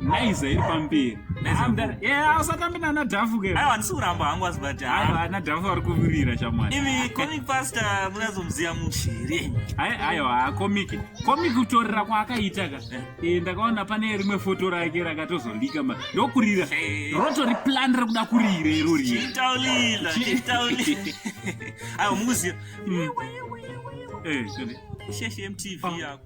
naiza iri pamberi usatambe nana dhafu ke handisi kuramba hangu asi but ana dhafu vari kuvirira chamwari imi comic pastor munazomuziva muchi here aiwa comic comic kutorera kwaakaita ka eh. Eh, ndakaona pane rimwe foto rake rakatozolika ma ndokurira eh. rotori plan rekuda kurira iro riyetaulila aiwa mukuziva sheshe mtv yako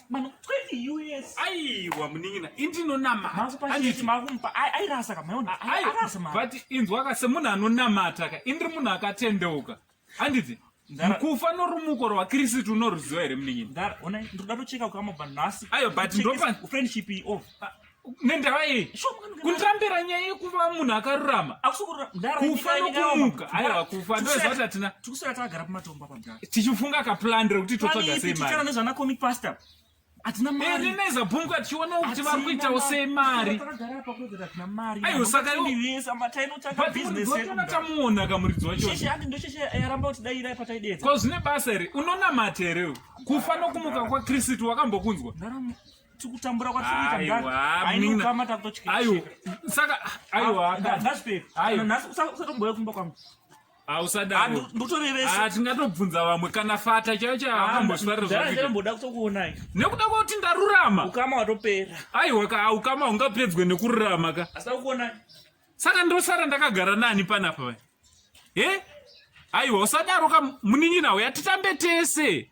mwana 20 us aiwa munin'ina indinonamata airasa ka maona arasa mwana but inzwa ka semunhu anonamata ka indiri munhu akatendeuka handiti kufa norumuko rwakristu unoruziva here munin'ina ndari onai ndiri kuda tocheka kukama bva nhasi ayo but ndopa friendship iyi off nendava yei kundirambira nyaya yekuva munhu akarurama kufa nokumuka aiwa kufa ndoziva kuti hatina tikusara tagara pamatomba pamdaa tichifunga kaplan rekuti totsvaga sei mari nezvana comic pastor hatina mari neza bhumka tichiona kuti vari kuitawo sei mari aiwa saka iwoatinoona tamuona kamuridzi wachondocheshearambakutidairapataideekwazvine basa here unonamata here kufana kumuka kwakristu wakambokunzwa tikutambura kwatikuita ndaainokama takutotyaausatombouya kumba kwangu ausadaatingatobvunza ah, vamwe kana fata chaiyo chaambosvarnekuda ah, kutokuonai nekuda kwakuti ndarurama ukama watopera aiwa ka ukama ungapedzwe nekururama ka asitakukuonai saka ndosara ndakagara nani panapa he aiwa usadaro ka munin'ina uya titambe tese